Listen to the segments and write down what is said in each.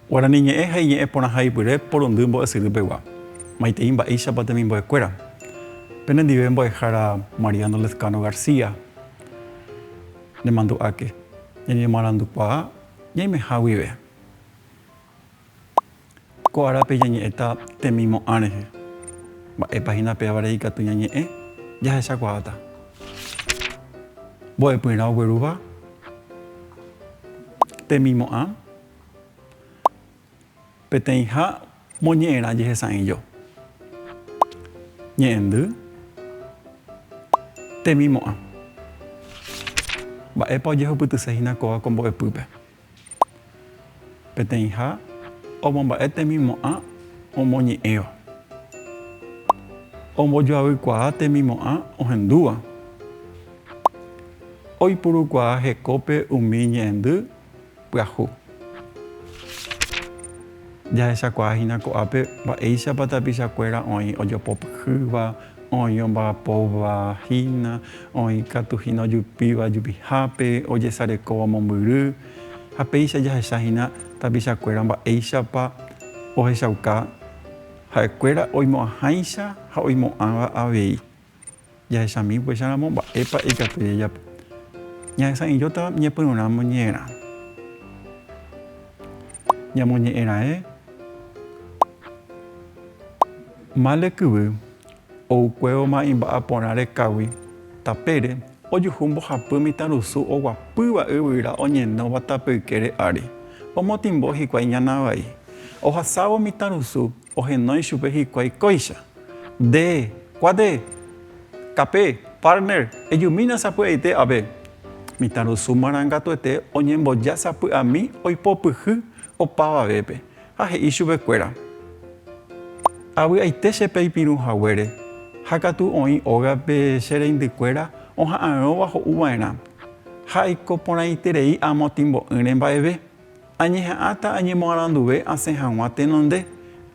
Guarani ñe'ẽ ha iñe'ẽ porãha ipyre porundy mbo'esyry pegua. Maitei mba'éichapa temimbo'e kuéra. Pene ndive mbo'ehára Mariano Lezcano García, ne mandu'áke, ñañemoarandukuaa, Ñaimeha guive, ko árape ñañe'ẽta temimo'ã rehe. Mba'épa hína pévare ikatu ñañe'ẽ? Jahechakuaáta. Mbo'epyrã oguerúva temimo'ã. Peteĩha moñe'ẽrã jehesa'ỹijo. Ñe'ẽndy. Temimo'ã. Mba'épa ojehupytyse hína kóva ko mbo'epýpe? Peteĩha omomba'e temimo'ã omoñe'ẽva. Ombojoavykuaa temimo'ã ohendúva. Oipurukuaa hekópe umi ñe'ẽndy. Pyahu. Jahechakuaa hína ko'ápe mba'éichapa tapichakuéra oĩ ojopopyhýva, oĩ omba'apóva hína, oĩ katu hína ojupíva jupihápe, ojesarekóva mombyry, ha péicha jahecha hína tapichakuéra mba'éichapa ohechauka ha'ekuéra oimo'ãháicha ha oimo'ãva avei. Jahechami upéicharamo mba'épa ikatu jajapo. Ñahesa'ỹijóta ñepyrũrã moñe'ẽrã. Ñamoñe'ẽraẽ mále kyvy oukuévo ma'imba'á porã rekágui tapére ojuhu mbohapy mitãrusu oguapýva yvyra oñenóva tapykére ári. Omotĩmbo hikuái ñana vai. Ohasávo mitãrusu Ohenói chupe hikuái kóicha. Nde, kuáte, Kape, Palmer, ejumína sapy'aite ave. Mitãrusu marangatuete oñemboja sapy'ami oipopyhy opavavépe ha he'i chupekuéra, Avy'aite che peipirũ haguére, ha katu oĩ ógape che reindykuéra oha'ãrõva ho'uva'erã, ha aiko porãiterei amo timbo'ỹre mba'eve. Añeha'ãta añemoaranduve asẽ hag̃ua tenonde,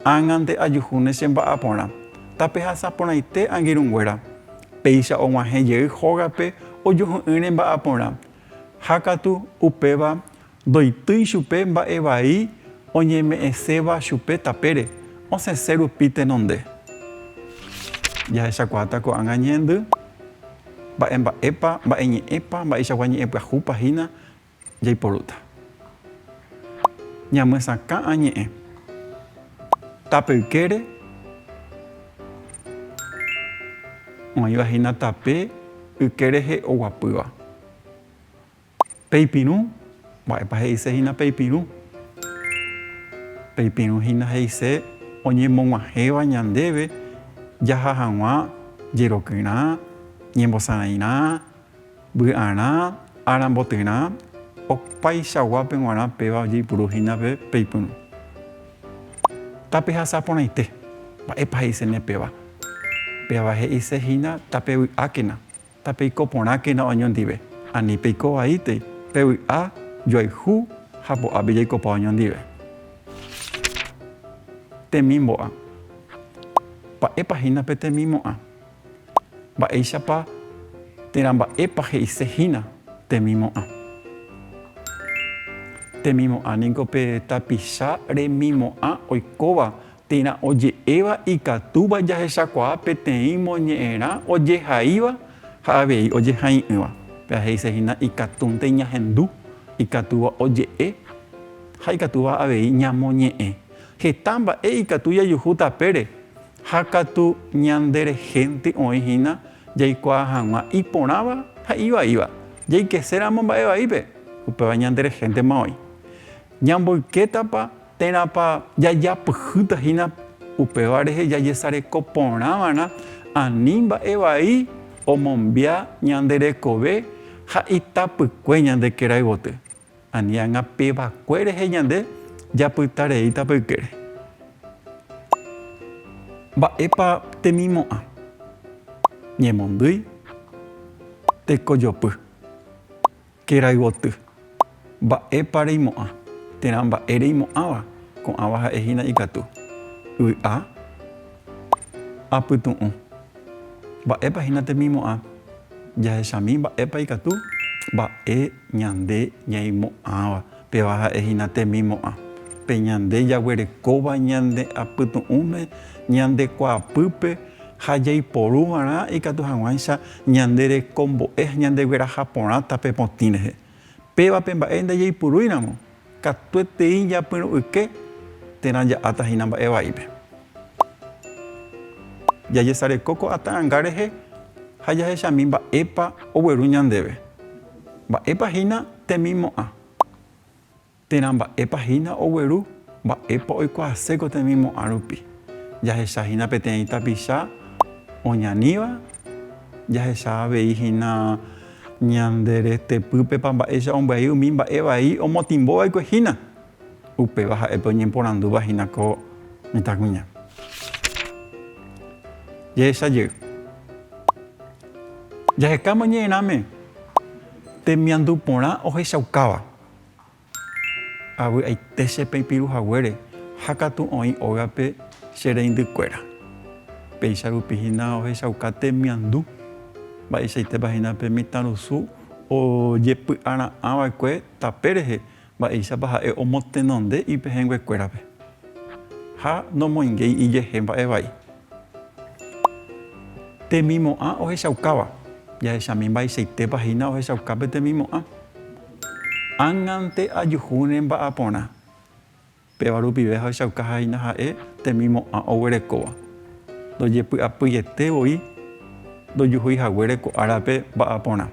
ág̃ante ajuhúne che mba'á porã. Tapehasa porãite angirũnguéra, péicha og̃uahẽ jey hógape ojuhu'ỹre mba'á porã. Ha katu, upéva, ndoitýi chupe mba'e vai oñeme'ẽséva chupe tapére, osẽse rupi tenonde. Jahechakuaáta ko'ág̃a ñehendy, mba'emba'épa, mba'eñe'ẽpa, mba'eichagua ñe'ẽpyahúpa hína, Jaiporúta ñamyesakã añe'ẽ tape ykére oĩva hína tape yke rehe oguapýva. Peipirũ, mba'épa he'ise hína peipirũ? Peipirũ hína he'ise oñemog̃uahẽva ñandéve jaha hag̃ua jerokyrã, ñembosarãirã, Vy'arã ára mbotyrã, opaichaguápe g̃uarã péva ojeipuru hína pe peipyrũ. Tapehasa porãite, mba'épa he'isene péva. Péva he'ise hína tapevy'ákena, tapeiko porãkena oñondive, ani peiko vaíte pe vy'a joayhu ha po'ápe jaikopa oñondive. Temimbo'a. Mba'épa hína pe temimo'ã? Mba'éichapa térã mba'épa he'ise hína temimo'ã? Temimo'ã ningo pe tapicha remimo'ã oikóva térã oje'éva ikatúva jahechakuaa peteĩ moñe'ẽrã ojehaíva ha avei ojehai'ỹva. Péva he'ise hína ikatúnte ñahendu ikatúva oje'e ha ikatúva avei ñamoñe'ẽ. Heta mba'e ikatu jajuhu tapére Ha katu ñanderehénte oĩ hína jaikuaa hag̃ua iporãva ha ivaíva, jaikeséramo mba'e vaípe, upéva ñanderehéntema oĩ. Ñamboykétapa térãpa jajapyhýta hína upéva rehe jajesareko porã va'erã ani mba'e vai omombia ñande rekove ha itapykue ñande kerayvoty. Ani anga pe vacue rehe ñande japyta rei tape ykére. Mba'épa temimo'ã? Ñemondýi, tekojopy, kerayvoty. Mba'épa reimo'ã? Térã mba'e reimo'ãva, ko'ãva ha'e hína ikatu. Y'a. Apytu'ũ. Mba'épa hína temimo'ã? Jahechami mba'épa ikatu mba'e ñande ñaimo'ãva. Péva ha'e hína temimo'ã. Pe ñande jaguerekóva ñande apytu'ũme ñande kuaapýpe ha jaiporu va'erã ikatu hag̃uáicha ñande rekombo'e ha ñandegueraha porãta pe potĩ rehe. Pévape mba'e ndajeipurúiramo, katuetei japyrũ'yke térã ja'áta hína mba'e vaípe. Jajesareko ko'ã ta'anga rehe ha jahechami mba'épa ogueru ñandéve, mba'épa hína temimo'ã. Térã mba'épa hína ogueru, mba'épa oikuaaséko temimo'ã rupi. Jahecha hína peteĩ tapicha oñaníva, jahecha avei hína ñande retepýpepa mba'éicha ombyai umi mba'e vai omotĩmbo vaikue hína. Upéva ha'épe oñemporandúva hína ko mitãkuña. Jehecha jey. Jahekáma ñe'ẽrãme temiandu porã ohechaukáva. Avy'aite che peipiru haguére ha katu oĩ ógape che reindy kuéra. Péicha rupi hína ohechauka temiandu. Mba'eichaitépa hína pe mitãrusu ojepy'ara'ã va'ekue tape rehe mba'éichapa ha'e omotenonde ipehẽngue kuérape. Ha nomoingéi ijehe mba'e vai. Temimo'ã ohechaukáva. Jahechami mba'eichaitépa hína ohechauka pe temimo'ã. Ág̃ante ajuhu ne mba'aporã. Péva rupive ahechauka ha'éina ha'e temimo'ã oguerekóva. Ndojepy'apýiete voi ndojuhúi haguére ko árape mba'aporã.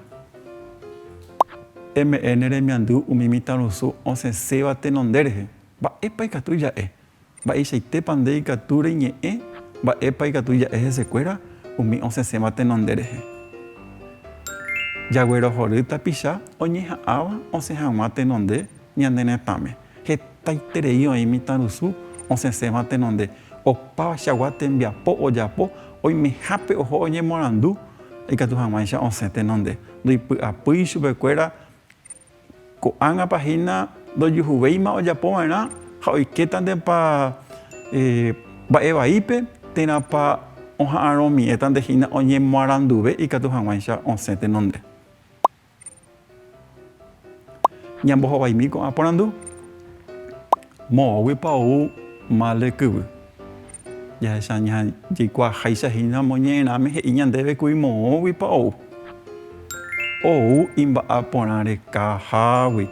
Eme'ẽ ne remiandu umi mitãrusu osẽséva tenonde rehe. Mba'épa ikatu ja'e? Mba'eichaitépa nde ikatu reñe'ẽ mba'épa ikatu ja'e hesekuéra umi osẽséva tenonde rehe? Jaguerohory tapicha oñeha'ãva osẽ hag̃ua tenonde ñane retãme. Hetaiterei oĩ mitãrusu osẽséva tenonde. Opavachagua tembiapo ojapo oimehápe oho oñemorandu ikatu hag̃uáicha osẽ tenonde. Ndoipy'apýi chupekuéra Ko'ág̃apa hína ndojuhuvéima ojapova'erã ha oikétantepa mba'e vaípe, térãpa oha'arõmiẽtante hína oñemoaranduve ikatu hag̃uáicha osẽ tenonde. Ñambohovaimi ko'ã porandu, Moõguipa ou mal rekyvy? Jahecha jaikuaaháicha hína moñe'ẽrãme he'i ñandéve kuri moõguipa ou. Ou imba'a porã rekahágui,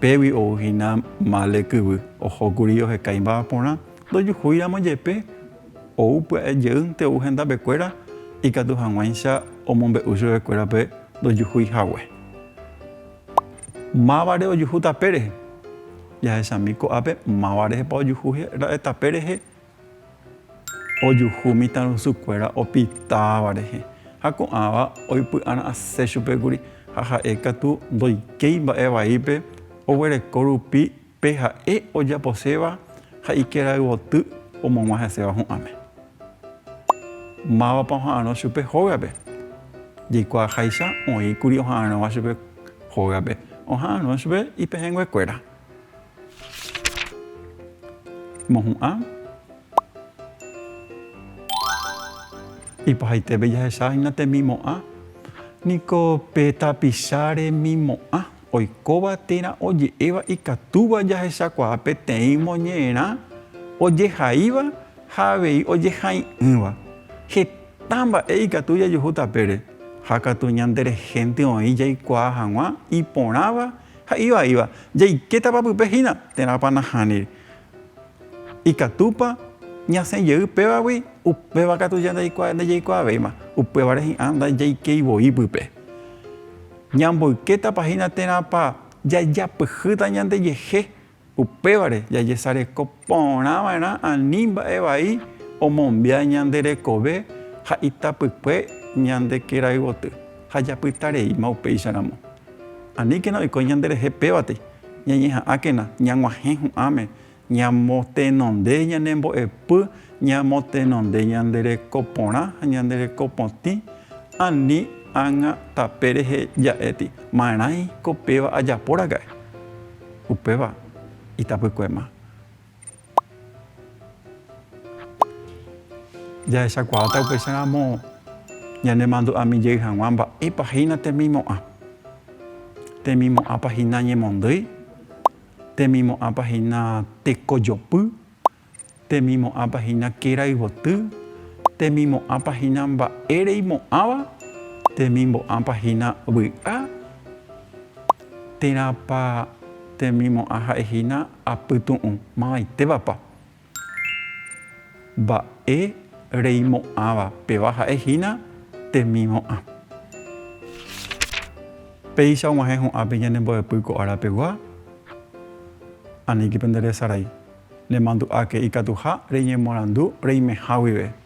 pégui ou hína mále kyvy, ohókuri oheka imba'a porã, ndojuhúiramo jepe, ou pya'e jeýnte ou hendapekuéra, ikatu hag̃uáicha omombe'u chuguekuérape ndojuhúi hague. Mávare ojuhu tape rehe? Jahechami ko'ápe máva rehepa ojuhu ra'e tape rehe. Ojuhu mitãrusu kuéra opitáva rehe. Ha ko'ãva oipy'ara'asẽ chupe kuri ha ha'e katu ndoikéi mba'e vaípe oguereko rupi Pe ha'e ojaposéva ha ikerayvoty omog̃ua heséva hu'ãme. Mávapa oha'arõ chupe hógape? Jaikuaaháicha oĩ kuri oha'arõva chupe hógape, oha'arõ chupe ipehẽnguekuéra. Mohu'ã. Ipahaitépe jahechahína temimo'ã, niko pe tapicha remimo'ã. Oikóva térã oje'éva ikatúva jahechakuaa peteĩ moñe'ẽrã ojehaíva ha avei ojehai'ỹva. Heta mba'e ikatu jajuhu tapére ha katu ñande rehénte oĩ jaikuaa hag̃ua iporãva ha ivaíva. Jaikétapa pype hína térãpa nahániri? Ikatúpa ñasẽ jey pévagui? Upéva katu ñandaikuaa ndajaikuaavéima, upévare hi'ã ndajaikeivoí pype. Ñamboykétapa hína térãpa jajapyhýta ñandejehe, upévare jajesareko porãva'erã ani mba'e vai omombya ñande rekove ha itapykue ñande kéra yvoty ha japytareíma upéicharamo. Aníkena oiko ñanderehe pévatei, ñañeha'ãkena ñag̃uahẽ hu'ãme Ñamotenonde ñanembo'epy, ñamotenonde ñande reko porã ha ñande reko potĩ, ani ág̃a tape rehe ja'éti, marãi ko péva ajaporaka'e, upéva itapykuéma. Jahechakuaáta upéicha ramo ñanemandu'ami jey haguã mba'épa hína temimo'ã. Temimo'ãpa hína ñemondýi, Temimo'ãpa hína tekojopy, temimo'ãpa hína kerayvoty, temimo'ãpa hína mba'e reimo'ãva, temimbo'ãpa hína vy'a, térãpa temimo'ã ha'e hína apytu'ũ, mavaitévapa? Mba'e reimo'ãva peva ha'e hína temimo'ã. Péicha og̃uahẽ ho'ápe ñanembo'epy ko ára pegua, aníke pende resarai, nemandu'áke ikatuha reñemoarandu reimeha guive.